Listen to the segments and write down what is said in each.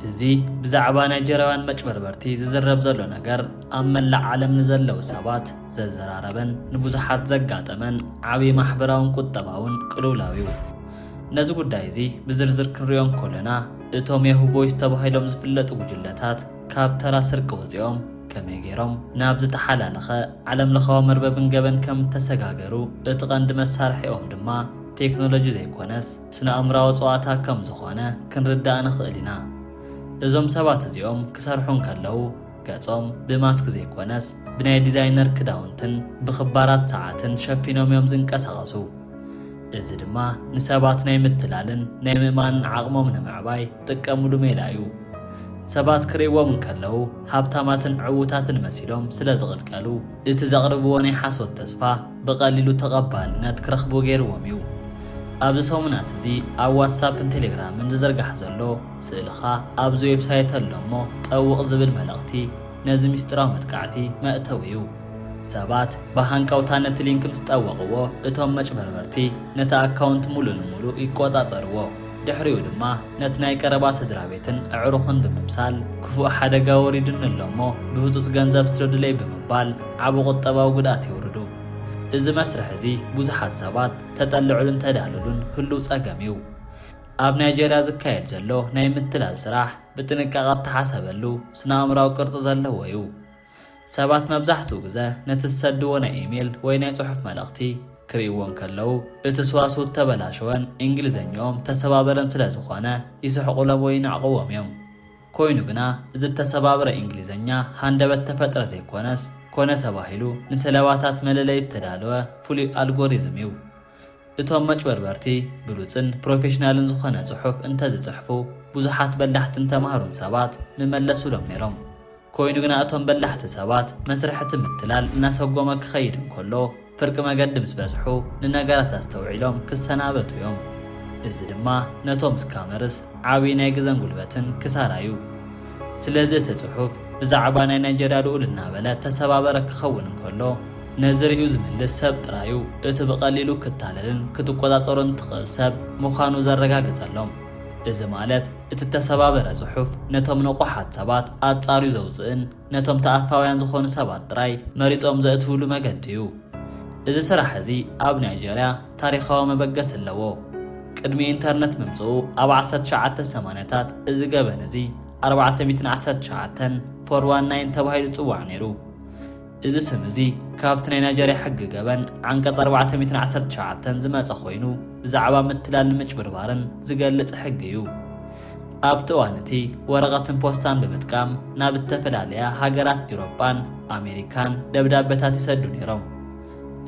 እዚ ብዛዕባ ናይጀርያውያን መጭበርበርቲ ዝዝረብ ዘሎ ነገር ኣብ መላእ ዓለም ንዘለዉ ሰባት ዘዘራረበን ንብዙሓት ዘጋጠመን ዓብዪ ማሕበራውን ቁጠባውን ቅልውላው እዩ ነዚ ጉዳይ እዚ ብዝርዝር ክንሪኦ እንኮለና እቶም የሁ ቦይስ ተባሂሎም ዝፍለጡ ጉጅለታት ካብ ተራ ስርቂ ወፂኦም ከመይ ገይሮም ናብ ዝተሓላለኸ ዓለም ለኻዊ መርበብን ገበን ከም እተሰጋገሩ እቲ ቐንዲ መሳርሒኦም ድማ ቴክኖሎጂ ዘይኮነስ ስነ-ኣእምራዊ ጸዋታ ከም ዝኾነ ክንርዳእ ንኽእል ኢና። እዞም ሰባት እዚኦም ክሰርሑ እንከለዉ ገጾም ብማስክ ዘይኮነስ ብናይ ዲዛይነር ክዳውንትን ብኽባራት ሰዓትን ሸፊኖም እዮም ዝንቀሳቐሱ። እዚ ድማ ንሰባት ናይ ምትላልን ናይ ምእማንን ዓቕሞም ንምዕባይ ዝጥቀምሉ ሜላ እዩ። ሰባት ክርእይዎም እንከለዉ ሃብታማትን ዕዉታትን መሲሎም ስለ ዝቕልቀሉ፣ እቲ ዘቕርብዎ ናይ ሓሶት ተስፋ ብቐሊሉ ተቐባልነት ክረኽቡ ገይርዎም እዩ። ኣብዚ ሰሙናት እዚ ኣብ ዋትሳፕን ቴሌግራምን ዝዝርጋሕ ዘሎ ስእልኻ ኣብዚ ዌብሳይት ኣሎ እሞ ጠውቕ ዝብል መልእኽቲ ነዚ ምስጢራዊ መጥቃዕቲ መእተዊ እዩ። ሰባት ብሃንቀውታ ነቲ ሊንክ ምስ ጠወቕዎ እቶም መጭበርበርቲ ነቲ ኣካውንት ሙሉእ ንሙሉእ ይቆጻጸርዎ። ድሕሪኡ ድማ ነቲ ናይ ቀረባ ስድራቤትን ኣዕሩኽን ብምምሳል ክፉእ ሓደጋ ወሪዱኒ ኣሎ እሞ ብህጹጽ ገንዘብ ስደዱለይ ብምባል ዓቢ ቁጠባዊ ጉድኣት የውርዱ። እዚ መስርሕ እዚ ብዙሓት ሰባት ተጠልዕሉን ተዳህልሉን ህሉው ጸገም እዩ። ኣብ ናይጀርያ ዝካየድ ዘሎ ናይ ምትላል ስራሕ ብጥንቃቐ እተሓሰበሉ ስነ-ኣእምሮኣዊ ቅርጺ ዘለዎ'ዩ። ሰባት መብዛሕትኡ ግዘ ነቲ ዝሰድዎ ናይ ኢሜል ወይ ናይ ጽሑፍ መልእኽቲ ክርእይዎ እንከለዉ እቲ ስዋስው እተበላሸወን እንግሊዘኝኦም እተሰባበረን ስለ ዝኾነ ይስሕቑሎም ወይ ይንዕቕዎም እዮም። ኮይኑ ግና እዚ እተሰባብረ እንግሊዘኛ ሃንደበት እተፈጥረ ዘይኮነስ ኮነ ተባሂሉ ንሰለባታት መለለዪ እተዳለወ ፍሉይ ኣልጎሪዝም እዩ። እቶም መጭበርበርቲ ብሉጽን ፕሮፌሽናልን ዝኾነ ጽሑፍ እንተዝጽሕፉ ብዙሓት በላሕትን ተማህሩን ሰባት ምመለሱሎም ነይሮም። ኮይኑ ግና እቶም በላሕቲ ሰባት መስርሕ እቲ ምትላል እናሰጎመ ክኸይድ እንከሎ ፍርቂ መገዲ ምስ በጽሑ ንነገራት ኣስተውዒሎም ክሰናበቱ እዮም። እዚ ድማ ነቶም ስካመርስ ዓብይ ናይ ግዘን ጉልበትን ክሳራ እዩ። ስለዚ እቲ ጽሑፍ ብዛዕባ ናይ ናይጀርያ ልኡል እናበለ ተሰባበረ ክኸውን እንከሎ፣ ነዚ ርእዩ ዝምልስ ሰብ ጥራዩ እቲ ብቐሊሉ ክታለልን ክትቆጻጸሮን እትኽእል ሰብ ምዃኑ ዘረጋግጸሎም። እዚ ማለት እቲ እተሰባበረ ጽሑፍ ነቶም ንቑሓት ሰባት ኣጻርዩ ዘውጽእን ነቶም ተኣፋውያን ዝኾኑ ሰባት ጥራይ መሪጾም ዘእትውሉ መገዲዩ። እዚ ስራሕ እዚ ኣብ ናይጀርያ፣ ታሪኻዊ መበገሲ ኣለዎ። ቅድሚ ኢንተርነት ምምጽኡ ኣብ ዓሰርተ ትሽዓተ ሰማንያታት እዚ ገበን እዚ ኣርባዕተ ሚእትን ዓሰርተ ትሽዓተን፣ ፎር ዋን ናይን፣ ተባሂሉ ይጽዋዕ ነይሩ። እዚ ስም እዚ ካብቲ ናይ ናይጀርያ ሕጊ ገበን ዓንቀጽ ኣርባዕተ ሚእትን ዓሰርተ ትሽዓተን ዝመጸ ኮይኑ ብዛዕባ ምትላልን ምጭብርባርን ዝገልጽ ሕጊ እዩ። ኣብቲ እዋን እቲ ወረቐትን ፖስታን ብምጥቃም ናብ እተፈላለያ ሃገራት ኢውሮጳን ኣሜሪካን ደብዳበታት ይሰዱ ነይሮም።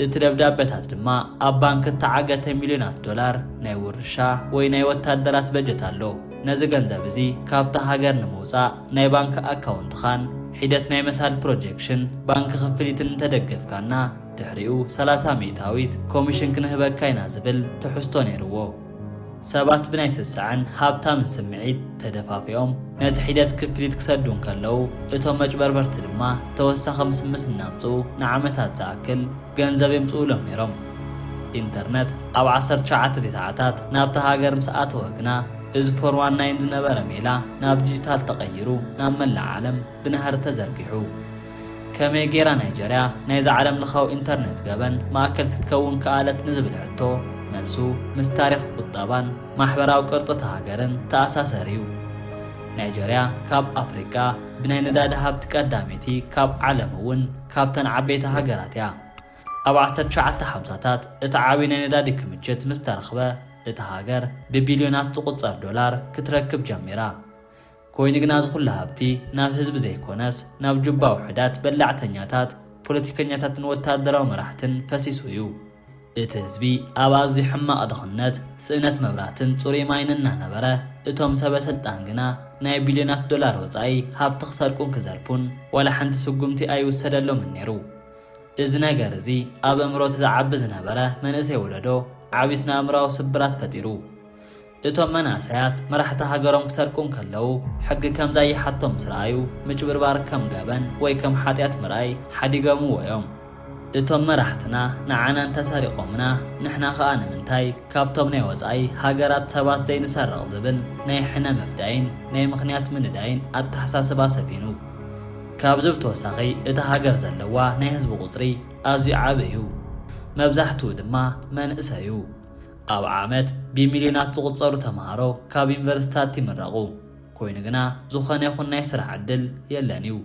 እቲ ደብዳበታት ድማ ኣብ ባንክ እተዓገተ ሚልዮናት ዶላር ናይ ውርሻ ወይ ናይ ወታደራት በጀት ኣሎ። ነዚ ገንዘብ እዚ ካብታ ሃገር ንምውጻእ ናይ ባንክ ኣካውንትኻን ሒደት ናይ መሳድ ፕሮጀክሽን ባንክ ክፍሊትን እንተደገፍካና ድሕሪኡ ሰላሳ ሚእታዊት ኮሚሽን ክንህበካ ኢና ዝብል ትሕዝቶ ነይርዎ። ሰባት ብናይ ስሰዐን ሃብታምን ስምዒት ተደፋፊኦም ነቲ ሒደት ክፍሊት ክሰዱ እንከለዉ፣ እቶም መጭበርበርቲ ድማ ተወሳኺ ምስምስ እናምጽኡ ንዓመታት ዝኣክል ገንዘብ የምጽኡሎም ነይሮም። ኢንተርነት ኣብ ዓሰርተ ትሽዓተ ቴስዓታት ናብታ ሃገር ምስ ኣተወ ግና፣ እዚ ፎር ዋን ናይን ዝነበረ ሜላ ናብ ዲጂታል ተቐይሩ ናብ መላእ ዓለም ብናህሪ ተዘርጊሑ። ከመይ ገይራ ናይጀርያ ናይዚ ዓለምለኻዊ ኢንተርነት ገበን ማእከል ክትከውን ከኣለት ንዝብል ሕቶ መልሱ ምስ ታሪኽ ቁጠባን ማሕበራዊ ቅርጺ እታ ሃገርን ተኣሳሰር እዩ። ናይጀርያ ካብ ኣፍሪቃ ብናይ ነዳዲ ሃብቲ ቀዳመይቲ ካብ ዓለም እውን ካብተን ዓበይቲ ሃገራት እያ። ኣብ ዓሰርተ ትሽዓተ ሓምሳታት እቲ ዓብዪ ናይ ነዳዲ ክምችት ምስ ተረኽበ እታ ሃገር ብቢልዮናት ዝቑጸር ዶላር ክትረክብ ጀሚራ። ኮይኑ ግና እዚ ኩሉ ሃብቲ ናብ ህዝቢ ዘይኮነስ ናብ ጁባ ውሑዳት በላዕተኛታት ፖለቲከኛታትን ወታደራዊ መራሕትን ፈሲሱ እዩ። እቲ ህዝቢ ኣብ ኣዝዩ ሕማቕ ድኽነት፣ ስእነት መብራህትን ጽሩይ ማይን እናነበረ፣ እቶም ሰበ ስልጣን ግና ናይ ቢልዮናት ዶላር ወጻኢ ሃብቲ ክሰርቁን ክዘርፉን ዋላ ሓንቲ ስጉምቲ ኣይውሰደሎምን ነይሩ። እዚ ነገር እዚ ኣብ ኣእምሮ እቲ ዝዓቢ ዝነበረ መንእሰይ ወለዶ ዓቢ ስነ-ኣእምሮኣዊ ስብራት ፈጢሩ። እቶም መናእሰያት መራሕቲ ሃገሮም ክሰርቁ እንከለዉ ሕጊ ከም ዛይሓቶ ምስ ረኣዩ ምጭብርባር ከም ገበን ወይ ከም ሓጢኣት ምርኣይ ሓዲገምዎ እዮም። እቶም መራሕትና ንዓና እንተሰሪቖምና ንሕና ከኣ ንምንታይ ካብቶም ናይ ወጻኢ ሃገራት ሰባት ዘይንሰርቕ ዝብል ናይ ሕነ ምፍዳይን ናይ ምኽንያት ምንዳይን ኣተሓሳስባ ሰፊኑ። ካብዚ ብተወሳኺ እታ ሃገር ዘለዋ ናይ ህዝቢ ቁጽሪ ኣዝዩ ዓቢ እዩ። መብዛሕትኡ ድማ መንእሰይ እዩ። ኣብ ዓመት ብሚልዮናት ዝቑጸሩ ተመሃሮ ካብ ዩኒቨርሲቲታት ይምረቑ። ኮይኑ ግና ዝኾነ ይኹን ናይ ስራሕ ዕድል የለን እዩ።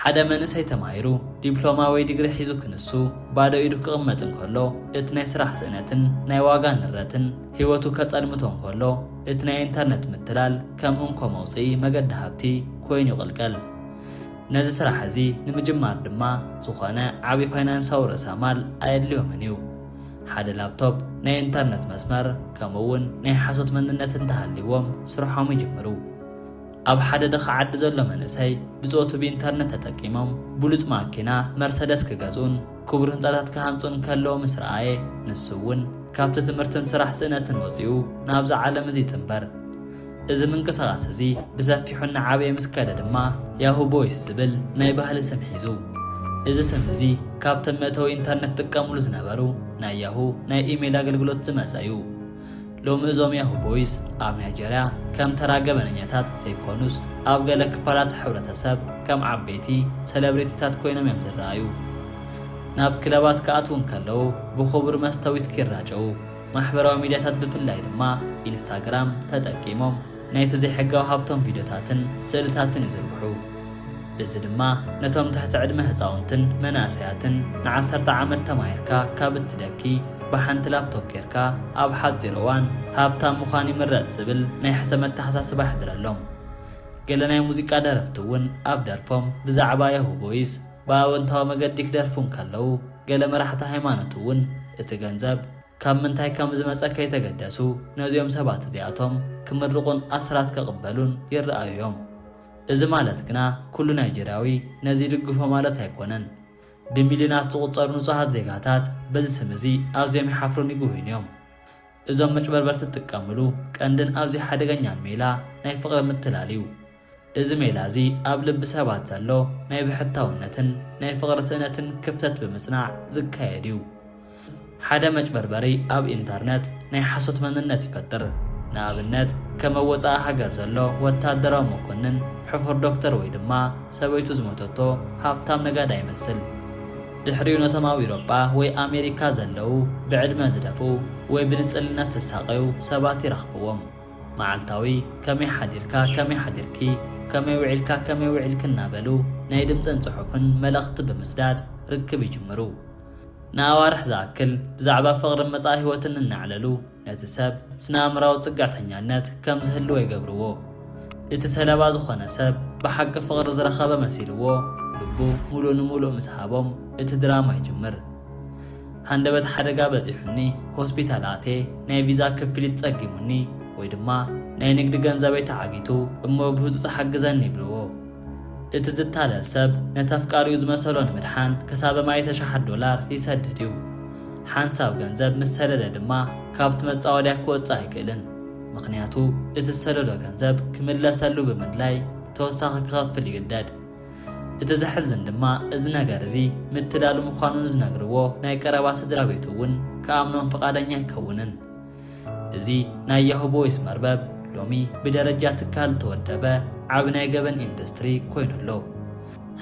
ሓደ መንእሰይ ተማሂሩ ዲፕሎማ ወይ ዲግሪ ሒዙ ክንሱ ባዶ ኢዱ ክቕመጥ እንከሎ እቲ ናይ ስራሕ ስእነትን ናይ ዋጋ ንረትን ህይወቱ ከጸልምቶ እንከሎ እቲ ናይ ኢንተርነት ምትላል ከም እንኮ መውጽኢ መገዲ ሃብቲ ኮይኑ ይቕልቀል። ነዚ ስራሕ እዚ ንምጅማር ድማ ዝኾነ ዓቢ ፋይናንሳዊ ርእሰማል ኣየድልዮምን እዩ። ሓደ ላፕቶፕ፣ ናይ ኢንተርነት መስመር፣ ከምኡ'ውን ናይ ሓሶት መንነት እንተሃልይዎም ስርሖም ይጅምሩ። ኣብ ሓደ ድኻ ዓዲ ዘሎ መንእሰይ ብጾቱ ብኢንተርነት ተጠቂሞም ብሉጽ ማኪና መርሰደስ ክገዝኡን ክቡር ህንጻታት ክሃንጹን ከለዉ ምስ ረኣየ ንሱ'ውን ካብቲ ትምህርትን ስራሕ ስእነትን ወጺኡ ናብዚ ዓለም እዚ ይጽንበር። እዚ ምንቅስቓስ እዚ ብሰፊሑ እናዓበየ ምስ ከደ ድማ ያሁ ቦይስ ዝብል ናይ ባህሊ ስም ሒዙ። እዚ ስም እዚ ካብቶም መእተዊ ኢንተርነት ዝጥቀምሉ ዝነበሩ ናይ ያሁ ናይ ኢሜይል ኣገልግሎት ዝመጸ እዩ። ሎሚ እዞም ያሁ ቦይስ ኣብ ናይጀርያ ከም ተራ ገበነኛታት ዘይኮኑስ ኣብ ገለ ክፋላት ሕብረተሰብ ከም ዓበይቲ ሰለብሬቲታት ኮይኖም እዮም ዝረኣዩ። ናብ ክለባት ክኣትዉ እንከለዉ ብኽቡር መስተ ዊስኪ ይራጨዉ። ማሕበራዊ ሚድያታት ብፍላይ ድማ ኢንስታግራም ተጠቂሞም ናይቲ ዘይሕጋዊ ሃብቶም ቪድዮታትን ስእልታትን ይዝርግሑ። እዚ ድማ ነቶም ትሕቲ ዕድመ ህፃውንትን መናእሰያትን ንዓሰርተ ዓመት ተማሂርካ ካብ እትደኪ ብሓንቲ ላፕቶፕ ጌርካ ኣብ ሓፂር እዋን ሃብታም ምዃን ይምረፅ ዝብል ናይ ሕሰም ኣተሓሳስባ የሕድረሎም። ገለ ናይ ሙዚቃ ደረፍቲ እውን ኣብ ደርፎም ብዛዕባ ያሁ ቦይስ፣ ብኣወንታዊ መገዲ ክደርፉ እንከለዉ፣ ገለ መራሕቲ ሃይማኖት እውን እቲ ገንዘብ ካብ ምንታይ ከም ዝመጸ ከይተገደሱ ነዚኦም ሰባት እዚኣቶም ክምርቑን ኣስራት ክቕበሉን ይረኣዩ እዮም። እዚ ማለት ግና ኩሉ ናይጀርያዊ ነዚ ይድግፎ ማለት ኣይኮነን። ብሚልዮናት ዝቑጸሩ ንጹሃት ዜጋታት በዚ ስም እዚ ኣዝዮም ይሓፍሩን ይጉህዩን እዮም። እዞም መጭበርበርቲ ዝጥቀምሉ ቀንድን ኣዝዩ ሓደገኛን ሜላ ናይ ፍቕሪ ምትላል እዩ። እዚ ሜላ እዚ ኣብ ልቢ ሰባት ዘሎ ናይ ብሕታውነትን ናይ ፍቕሪ ስእነትን ክፍተት ብምጽናዕ ዝካየድ እዩ። ሓደ መጭበርበሪ ኣብ ኢንተርነት ናይ ሓሶት መንነት ይፈጥር። ንኣብነት ከም ኣብ ወጻኢ ሃገር ዘሎ ወተሃደራዊ መኮንን፣ ሕፉር ዶክተር ወይ ድማ ሰበይቱ ዝሞተቶ ሃብታም ነጋዳይ ይመስል። ድሕሪኡ ነቶም ኣብ ኢሮጳ ወይ ኣሜሪካ ዘለዉ ብዕድመ ዝደፍኡ ወይ ብንጽልነት ዝሳቐዩ ሰባት ይረኽብዎም። መዓልታዊ ከመይ ሓዲርካ፣ ከመይ ሓዲርኪ፣ ከመይ ውዒልካ፣ ከመይ ውዒልኪ እናበሉ ናይ ድምጽን ጽሑፍን መልእኽቲ ብምስዳድ ርክብ ይጅምሩ። ንኣዋርሕ ዝኣክል ብዛዕባ ፍቕርን መጻኢ ህይወትን እናዕለሉ ነቲ ሰብ ስነ-ኣእምራዊ ጽግዕተኛነት ከም ዝህልዎ ይገብርዎ። እቲ ሰለባ ዝኾነ ሰብ ብሓቂ ፍቕሪ ዝረኸበ መሲልዎ ልቡ ምሉእ ንምሉእ ምስ ሃቦም እቲ ድራማ ይጅምር። ሃንደበት ሓደጋ በጺሑኒ ሆስፒታል ኣትየ ናይ ቪዛ ክፍሊት ጸጊሙኒ ወይ ድማ ናይ ንግዲ ገንዘበይ ተዓጊቱ እሞ ብህጹጽ ሓግዘኒ ይብልዎ። እቲ ዝታለል ሰብ ነቲ ኣፍቃሪኡ ዝመሰሎ ንምድሓን ክሳበ ማይተ ሽሓት ዶላር ይሰድድ እዩ። ሓንሳብ ገንዘብ ምስ ሰደደ ድማ ካብቲ መጻወድያ ክወጽእ ኣይክእልን ምኽንያቱ እቲ ዝሰደዶ ገንዘብ ክምለሰሉ ብምድላይ ተወሳኺ ክኸፍል ይግደድ። እቲ ዘሕዝን ድማ እዚ ነገር እዚ ምትላል ምዃኑ ንዝነግርዎ ናይ ቀረባ ስድራ ቤቱ እውን ክኣምኖም ፍቓደኛ ኣይከውንን። እዚ ናይ ያሁ ቦይስ መርበብ ሎሚ ብደረጃ ትካል ዝተወደበ ዓቢ ናይ ገበን ኢንዱስትሪ ኮይኑ ኣሎ።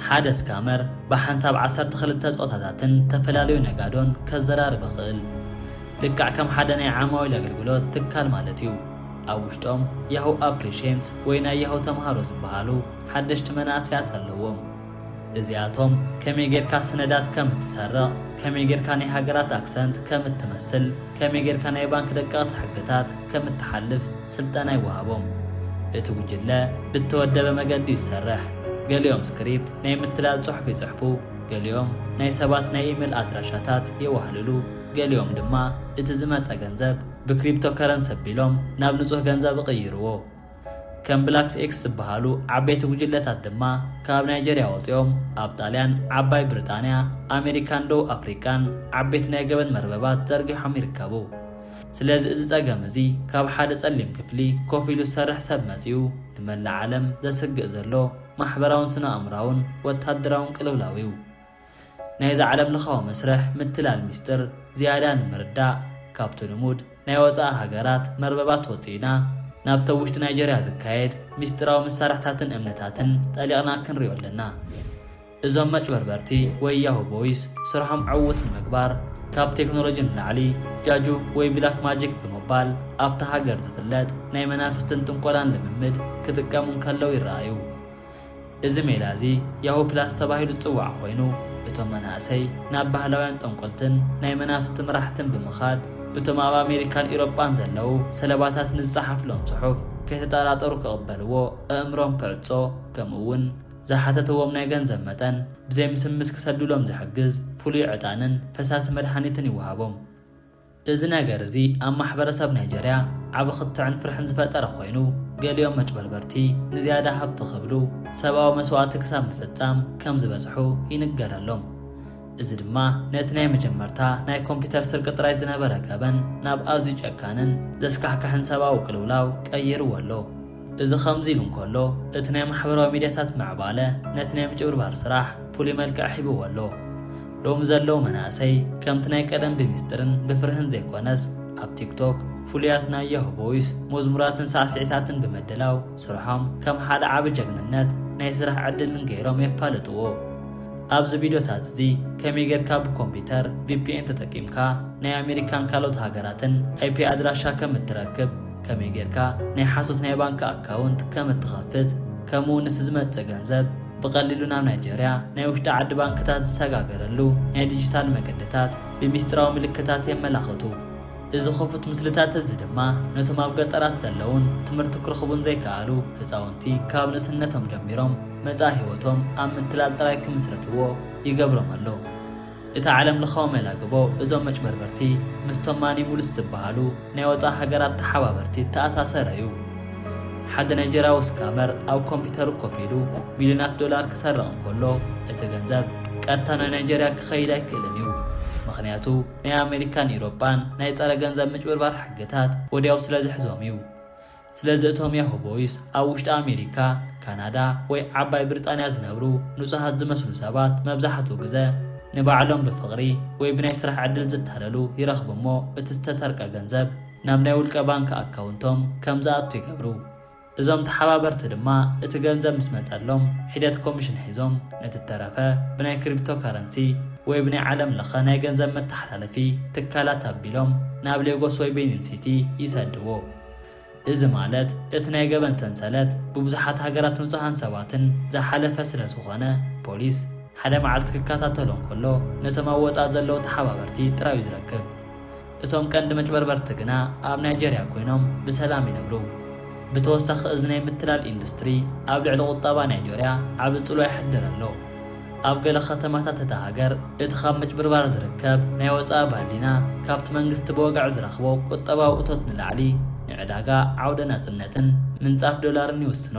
ሓደ ስካመር ብሓንሳብ ዓሰርተ ክልተ ጾታታትን ተፈላለዩ ነጋዶን ከዘራርብ ይኽእል። ልክዕ ከም ሓደ ናይ ዓማዊል ኣገልግሎት ትካል ማለት እዩ። ኣብ ውሽጦም ያሁ ኣፕሪሽንስ ወይ ናይ ያሁ ተማሃሮ ዝበሃሉ ሓደሽቲ መናእሰያት ኣለዎም እዚኣቶም ከመይ ጌርካ ስነዳት ከም እትሰርቕ ከመይ ጌርካ ናይ ሃገራት ኣክሰንት ከም እትመስል ከመይ ጌርካ ናይ ባንክ ደቀቕቲ ሕግታት ከም እትሓልፍ ስልጠና ይወሃቦም እቲ ጉጅለ ብእተወደበ መገዲ እዩ ዝሰርሕ ገሊኦም ስክሪፕት ናይ ምትላል ጽሑፍ ይጽሕፉ ገሊኦም ናይ ሰባት ናይ ኢሜል ኣድራሻታት የዋህልሉ ገሊኦም ድማ እቲ ዝመጸ ገንዘብ ብክሪፕቶከረንሲ ኣቢሎም ናብ ንጹህ ገንዘብ እቕይርዎ ከም ብላክስ ኤክስ ዝበሃሉ ዓበይቲ ጉጅለታት ድማ ካብ ናይጀርያ ወፂኦም ኣብ ጣልያን፣ ዓባይ ብሪጣንያ፣ ኣሜሪካን ደቡብ ኣፍሪቃን ዓበይቲ ናይ ገበን መርበባት ዘርጊሖም ይርከቡ። ስለዚ እዚ ፀገም እዚ ካብ ሓደ ፀሊም ክፍሊ ኮፍ ኢሉ ዝሰርሕ ሰብ መፂኡ ንመላእ ዓለም ዘስግእ ዘሎ ማሕበራውን ስነ-ኣእምሮኣውን ወታደራውን ቅልውላው እዩ። ናይዚ ዓለምለኻዊ መስርሕ ምትላል ሚስጥር ዝያዳ ንምርዳእ፣ ካብቲ ልሙድ ናይ ወጻኢ ሃገራት መርበባት ወጺእና፣ ናብቲ ኣብ ውሽጢ ናይጀርያ ዝካየድ ሚስጢራዊ መሳርሕታትን እምንታትን ጠሊቕና ክንሪኦ ኣለና። እዞም መጭበርበርቲ ወይ ያሁ ቦይስ ስርሖም ዕዉት ንምግባር ካብ ቴክኖሎጂ ንላዕሊ ጃጁ ወይ ብላክ ማጂክ ብምባል ኣብታ ሃገር ዝፍለጥ ናይ መናፍስትን ጥንቆላን ልምምድ ክጥቀሙ እንከለው ይረኣዩ። እዚ ሜላ እዚ ያሁ ፕላስ ተባሂሉ ዝጽዋዕ ኮይኑ፣ እቶም መናእሰይ ናብ ባህላውያን ጠንቆልትን ናይ መናፍስቲ መራሕትን ብምኻድ እቶም ኣብ ኣሜሪካን ኢሮጳን ዘለዉ ሰለባታት ንዝጸሓፍሎም ጽሑፍ ከይተጠራጠሩ ክቕበልዎ ኣእምሮም ክዕጾ ከምኡ'ውን ዝሓተትዎም ናይ ገንዘብ መጠን ብዘይምስምስ ክሰዱሎም ዝሕግዝ ፍሉይ ዕጣንን ፈሳሲ መድሓኒትን ይወሃቦም። እዚ ነገር እዚ ኣብ ማሕበረሰብ ናይጀርያ ዓቢ ክትዕን ፍርሕን ዝፈጠረ ኮይኑ፣ ገሊኦም መጭበርበርቲ ንዝያዳ ሃብቲ ክብሉ ሰብኣዊ መስዋእቲ ክሳብ ምፍጻም ከም ዝበጽሑ ይንገረሎም። እዚ ድማ ነቲ ናይ መጀመርታ ናይ ኮምፒተር ስርቂ ጥራይ ዝነበረ ገበን ናብ ኣዝዩ ጨካንን ዘስካሕክሕን ሰብኣዊ ቅልውላው ቀይርዎ ኣሎ። እዚ ከምዚ ኢሉ እንከሎ፣ እቲ ናይ ማሕበራዊ ሚድያታት ምዕባለ ነቲ ናይ ምጭብርባር ስራሕ ፍሉይ መልክዕ ሂብዎ ኣሎ። ሎሚ ዘለዉ መናእሰይ ከምቲ ናይ ቀደም ብሚስጥርን ብፍርህን ዘይኮነስ ኣብ ቲክቶክ ፍሉያት ናይ ያሁ ቦይስ መዝሙራትን ሳዕስዒታትን ብምድላው ስርሖም ከም ሓደ ዓቢ ጀግንነት ናይ ስራሕ ዕድልን ገይሮም የፋልጥዎ። ኣብዚ ቪድዮታት እዚ ከመይ ጌርካ ብኮምፒተር ቪፒኤን ተጠቂምካ ናይ ኣሜሪካን ካልኦት ሃገራትን ኣይፒ ኣድራሻ ከም እትረክብ፣ ከመይ ጌርካ ናይ ሓሶት ናይ ባንኪ ኣካውንት ከም እትኸፍት ከምኡውን እቲ ዝመጽእ ገንዘብ ብቐሊሉ ናብ ናይጀርያ ናይ ውሽጢ ዓዲ ባንክታት ዝሰጋገረሉ ናይ ዲጂታል መገድታት ብሚስጢራዊ ምልክታት የመላኽቱ። እዚ ክፉት ምስልታት እዚ ድማ ነቶም ኣብ ገጠራት ዘለዉን ትምህርቲ ክረኽቡን ዘይከኣሉ ህጻውንቲ ካብ ንእስነቶም ጀሚሮም መጻኢ ህይወቶም ኣብ ምትላል ጥራይ ክምስርትዎ ይገብሮም ኣሎ። እቲ ዓለም ለኻዊ መላግቦ እዞም መጭበርበርቲ ምስቶም ማኒሙልስ ዝበሃሉ ናይ ወጻኢ ሃገራት ተሓባበርቲ እተኣሳሰረ እዩ። ሓደ ናይጀርያዊ ስካመር ኣብ ኮምፒተሩ ኮፍ ኢሉ ሚልዮናት ዶላር ክሰርቕ እንከሎ እቲ ገንዘብ ቀጥታ ናብ ናይጀርያ ክኸይድ ኣይክእልን እዩ። ምኽንያቱ ናይ ኣመሪካን ኢሮጳን ናይ ጸረ ገንዘብ ምጭብርባር ሕግታት ወድያው ስለዝሕዞም እዩ። ስለዚ እቶም ያሁ ቦይስ ኣብ ውሽጢ ኣሜሪካ፣ ካናዳ ወይ ዓባይ ብሪጣንያ ዝነብሩ ንጹሃት ዝመስሉ ሰባት መብዛሕትኡ ግዘ ንባዕሎም ብፍቕሪ ወይ ብናይ ስራሕ ዕድል ዝታለሉ ይረኽቡ እሞ እቲ ዝተሰርቀ ገንዘብ ናብ ናይ ውልቀ ባንክ ኣካውንቶም ከም ዝኣቱ ይገብሩ። እዞም ተሓባበርቲ ድማ እቲ ገንዘብ ምስ መጸሎም ሒደት ኮሚሽን ሒዞም ነቲ እተረፈ ብናይ ክሪፕቶ ከረንሲ ወይ ብናይ ዓለም ለኸ ናይ ገንዘብ መተሓላለፊ ትካላት ኣቢሎም ናብ ሌጎስ ወይ ቤኒን ሲቲ ይሰድዎ። እዚ ማለት እቲ ናይ ገበን ሰንሰለት ብብዙሓት ሃገራት ንጹሃን ሰባትን ዝሓለፈ ስለ ዝኾነ ፖሊስ ሓደ መዓልቲ ክከታተሎ እንከሎ ነቶም ኣብ ወጻኢ ዘለዉ ተሓባበርቲ ጥራዩ ዝረክብ። እቶም ቀንዲ መጭበርበርቲ ግና ኣብ ናይጀርያ ኮይኖም ብሰላም ይነብሩ። ብተወሳኺ እዚ ናይ ምትላል ኢንዱስትሪ ኣብ ልዕሊ ቁጠባ ናይጆርያ ዓቢ ጽልዋ የሕድር ኣሎ። ኣብ ገለ ከተማታት እታ ሃገር፣ እቲ ካብ ምጭብርባር ዝርከብ ናይ ወጻኢ ባህሊና፣ ካብቲ መንግስቲ ብወግዒ ዝረኽቦ ቁጠባዊ እቶት ንላዕሊ ንዕዳጋ፣ ዓውደ ናጽነትን ምንጻፍ ዶላርን ይውስኖ።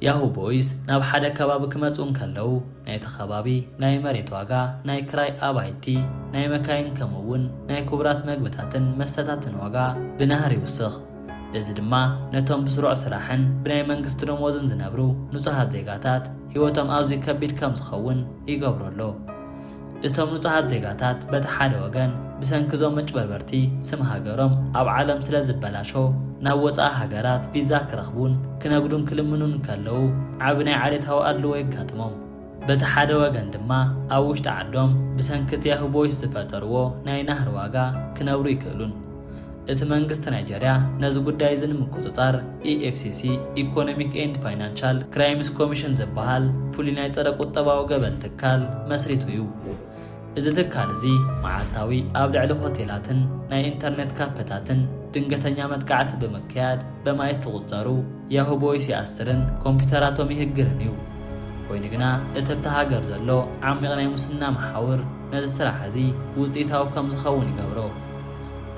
ያሁ ቦይስ ናብ ሓደ ከባቢ ክመጽኡ እንከለዉ፣ ናይቲ ከባቢ ናይ መሬት ዋጋ፣ ናይ ክራይ ኣባይቲ፣ ናይ መካይን ከምኡ'ውን ናይ ክቡራት መግብታትን መስተታትን ዋጋ ብናህሪ ይውስኽ። እዚ ድማ ነቶም ብስሩዕ ስራሕን ብናይ መንግስቲ ደሞዝን ዝነብሩ ንጹሃት ዜጋታት ህይወቶም ኣዝዩ ከቢድ ከም ዝኸውን ይገብሮ ኣሎ። እቶም ንጹሃት ዜጋታት በቲ ሓደ ወገን ብሰንኪ እዞም መጭበርበርቲ ስም ሃገሮም ኣብ ዓለም ስለ ዝበላሾ ናብ ወጻኢ ሃገራት ቪዛ ክረኽቡን ክነግዱን ክልምኑን እንከለዉ ዓቢ ናይ ዓሌታዊ ኣድልዎ የጋጥሞም። በቲ ሓደ ወገን ድማ ኣብ ውሽጢ ዓዶም ብሰንኪ እቲ ያሁቦይስ ዝፈጠርዎ ናይ ናህሪ ዋጋ ክነብሩ ኣይክእሉን። እቲ መንግስቲ ናይጀርያ ነዚ ጉዳይ እዚ ንምቁጽጻር ኢኤፍሲሲ፣ ኢኮኖሚክ ኤንድ ፋይናንሻል ክራይምስ ኮሚሽን፣ ዝበሃል ፍሉይ ናይ ጸረ ቁጠባዊ ገበን ትካል መስሪቱ እዩ። እዚ ትካል እዚ መዓልታዊ ኣብ ልዕሊ ሆቴላትን ናይ ኢንተርኔት ካፈታትን ድንገተኛ መጥቃዕቲ ብምክያድ በማኢት ዝቑጸሩ ያሁ ቦይስ ይኣስርን ኮምፒተራቶም ይህግርን እዩ። ኮይኑ ግና እቲ ኣብታ ሃገር ዘሎ ዓሚቕ ናይ ሙስና መሓውር ነዚ ስራሕ እዚ ውጽኢታዊ ከም ዝኸውን ይገብሮ።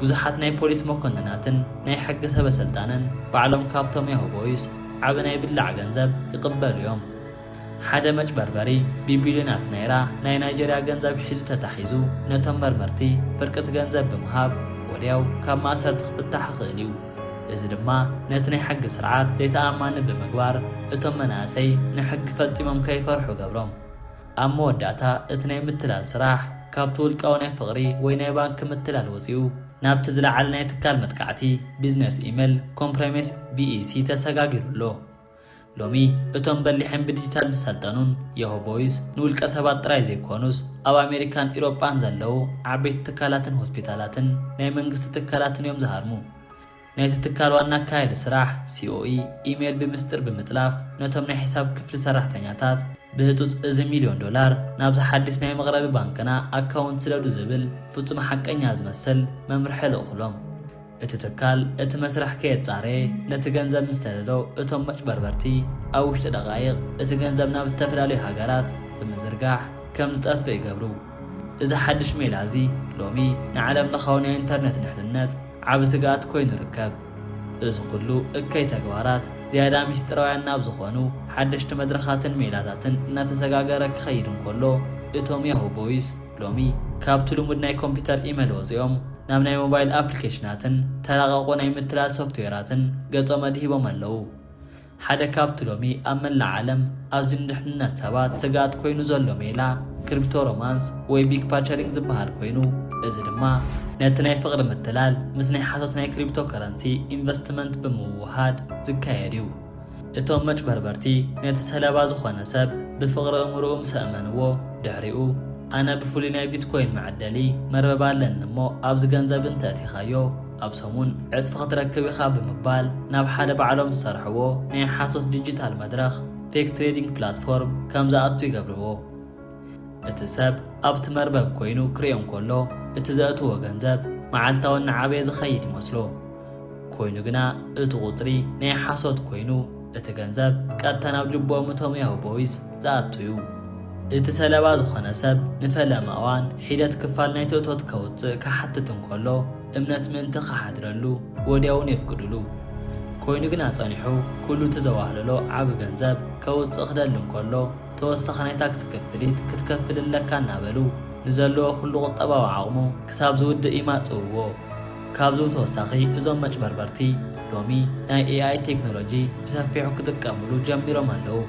ብዙሓት ናይ ፖሊስ መኮንናትን ናይ ሕጊ ሰበ-ስልጣንን ባዕሎም ካብቶም ያሁ ቦይስ ዓቢ ናይ ብላዕ ገንዘብ ይቕበሉ እዮም። ሓደ መጭበርበሪ ቢቢልዮናት ናይራ ናይ ናይጀርያ ገንዘብ ሒዙ ተታሒዙ ነቶም መርመርቲ ፍርቂ'ቲ ገንዘብ ብምሃብ ወድያው ካብ ማእሰርቲ ክፍታሕ ይኽእል እዩ። እዚ ድማ ነቲ ናይ ሕጊ ስርዓት ዘይተኣማኒ ብምግባር እቶም መናእሰይ ንሕጊ ፈጺሞም ከይፈርሑ ገብሮም። ኣብ መወዳእታ እቲ ናይ ምትላል ስራሕ ካብቲ ውልቃዊ ናይ ፍቕሪ ወይ ናይ ባንኪ ምትላል ወጺኡ ናብቲ ዝለዓለ ናይ ትካል መጥቃዕቲ፣ ቢዝነስ ኢመል ኮምፕረሜስ፣ VEC፣ ተሰጋጊሩ ኣሎ። ሎሚ እቶም በሊሐን ብዲጂታል ዝሰልጠኑን የሆ ቦይስ ንውልቀ ሰባት ጥራይ ዘይኮኑስ ኣብ ኣሜሪካን ኢሮጳን ዘለዉ ዓበይቲ ትካላትን ሆስፒታላትን ናይ መንግስቲ ትካላትን እዮም ዝሃርሙ። ናይቲ ትካል ዋና ኣካያዲ ስራሕ ሲኦኢ ኢሜይል ብምስጢር ብምጥላፍ ነቶም ናይ ሕሳብ ክፍሊ ሰራሕተኛታት ብህፁፅ እዚ ሚልዮን ዶላር ናብዚ ሓድሽ ናይ መቕረቢ ባንክና ኣካውንት ስደዱ ዝብል ፍፁም ሓቀኛ ዝመስል መምርሒ ልእኹሎም። እቲ ትካል እቲ መስርሕ ከየጻረየ ነቲ ገንዘብ ምስ ሰደዶ እቶም መጭበርበርቲ ኣብ ውሽጢ ደቓይቕ እቲ ገንዘብ ናብ እተፈላለዩ ሃገራት ብምዝርጋሕ ከም ዝጠፍእ ይገብሩ። እዚ ሓድሽ ሜላ እዚ ሎሚ ንዓለም ለኻዊ ናይ ኢንተርነት ድሕንነት ዓቢ ስግኣት ኮይኑ ይርከብ። እዚ ኩሉ እከይ ተግባራት ዝያዳ ምስጢራውያን ናብ ዝኾኑ ሓደሽቲ መድረኻትን ሜላታትን እናተሰጋገረ ክኸይድ እንከሎ እቶም ያሁ ቦይስ ሎሚ ካብቲ ልሙድ ናይ ኮምፒተር ኢመል ወጺኦም ናብ ናይ ሞባይል ኣፕሊኬሽናትን ተራቐቑ ናይ ምትላል ሶፍትዌራትን ገጾም ኣድሂቦም ኣለዉ። ሓደ ካብቲ ሎሚ ኣብ መላእ ዓለም ኣዝዩ ንድሕንነት ሰባት ስግኣት ኮይኑ ዘሎ ሜላ ክሪፕቶ ሮማንስ ወይ ቢክ ፓቸሪንግ ዝበሃል ኮይኑ እዚ ድማ ነቲ ናይ ፍቕሪ ምትላል ምስ ናይ ሓሶት ናይ ክሪፕቶ ከረንሲ ኢንቨስትመንት ብምውህሃድ ዝካየድ እዩ። እቶም መጭበርበርቲ ነቲ ሰለባ ዝኾነ ሰብ ብፍቕሪ እምርኡ ምስ ኣእመንዎ ድሕሪኡ ኣነ ብፍሉይ ናይ ቢትኮይን መዐደሊ መርበብ ኣለኒ እሞ ኣብዚ ገንዘብ እንተእቲኻዮ ኣብ ሰሙን ዕጽፊ ክትረክብ ኢኻ ብምባል ናብ ሓደ ባዕሎም ዝሰርሕዎ ናይ ሓሶት ዲጂታል መድረኽ፣ ፌክ ትሬዲንግ ፕላትፎርም፣ ከም ዝኣቱ ይገብርዎ። እቲ ሰብ ኣብቲ መርበብ ኰይኑ ክርእዮ እንከሎ፣ እቲ ዘእትዎ ገንዘብ መዓልታዊ እናዓበየ ዝኸይድ ይመስሎ። ኰይኑ ግና፣ እቲ ቍጽሪ ናይ ሓሶት ኰይኑ፣ እቲ ገንዘብ ቀጥታ ናብ ጅብኦም እቶም ያሁ ቦይዝ ዝኣቱ እዩ። እቲ ሰለባ ዝዀነ ሰብ ንፈለማ እዋን ሒደት ክፋል ናይቲ እቶት ከውጽእ ክሓትት እንከሎ፣ እምነት ምእንቲ ክሓድረሉ ወዲያውኑ የፍቅዱሉ። ኰይኑ ግና ጸኒሑ ኵሉ እቲ ዘዋህለሎ ዓቢ ገንዘብ ከውጽእ ክደሊ እንከሎ፣ ተወሳኺ ናይ ታክሲ ክፍሊት ክትከፍል ኣለካ እናበሉ ንዘለዎ ኩሉ ቁጠባዊ ዓቕሙ ክሳብ ዝውድእ ይማጽእዎ። ካብዚ ብተወሳኺ እዞም መጭበርበርቲ ሎሚ ናይ ኤኣይ ቴክኖሎጂ ብሰፊሑ ክጥቀምሉ ጀሚሮም ኣለዉ።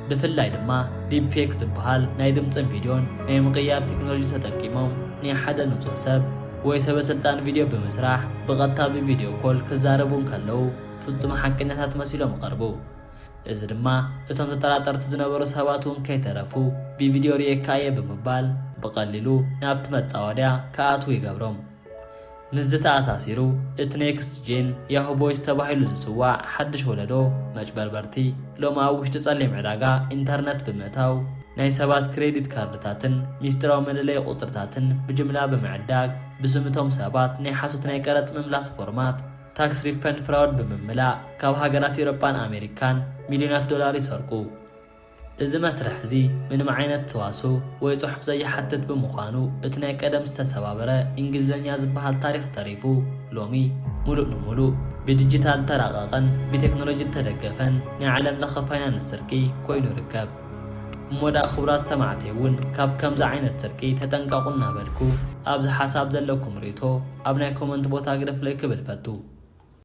ብፍላይ ድማ ዲፕፌክ ዝበሃል ናይ ድምጽን ቪድዮን ናይ ምቕያር ቴክኖሎጂ ተጠቂሞም ናይ ሓደ ንጹህ ሰብ ወይ ሰበስልጣን ቪድዮ ብምስራሕ ብቐጥታ ብቪድዮ ኮል ክዛረቡ እንከለዉ ፍጹም ሓቀኛታት መሲሎም ይቐርቡ። እዚ ድማ እቶም ተጠራጠርቲ ዝነበሩ ሰባት እውን ከይተረፉ ብቪድዮ ርእየካ እየ ብምባል ብቐሊሉ ናብቲ መጻወድያ ክኣትዉ ይገብሮም። ምስዚ ተኣሳሲሩ እቲ ኔክስት ጄን ያሁ ቦይስ ተባሂሉ ዝጽዋዕ ሓድሽ ወለዶ መጭበርበርቲ ሎሚ ኣብ ውሽጢ ጸሊም ዕዳጋ ኢንተርነት ብምእታው ናይ ሰባት ክሬዲት ካርድታትን ሚስጢራዊ መለለዪ ቁጽርታትን ብጅምላ ብምዕዳግ ብስም እቶም ሰባት ናይ ሓሶት ናይ ቀረጽ ምምላስ ፎርማት ታክስ ሪፈንድ ፍራውድ ብምምላእ ካብ ሃገራት ኤሮጳን ኣሜሪካን ሚልዮናት ዶላር ይሰርቁ። እዚ መስርሕ እዚ ምንም ዓይነት ተዋስኦ ወይ ጽሑፍ ዘይሓትት ብምዃኑ እቲ ናይ ቀደም ዝተሰባበረ እንግሊዝኛ ዝበሃል ታሪኽ ተሪፉ ሎሚ ሙሉእ ንሙሉእ ብዲጂታል ዝተራቐቐን ብቴክኖሎጂ ዝተደገፈን ናይ ዓለም ለኸ ፋይናንስ ስርቂ ኮይኑ ይርከብ። እሞ ድኣ ክቡራት ሰማዕተይ እውን ካብ ከምዚ ዓይነት ስርቂ ተጠንቀቑ እናበልኩ ኣብዚ ሓሳብ ዘለኩም ርእይቶ ኣብ ናይ ኮመንት ቦታ ግደፉለይ ክብል እፈቱ።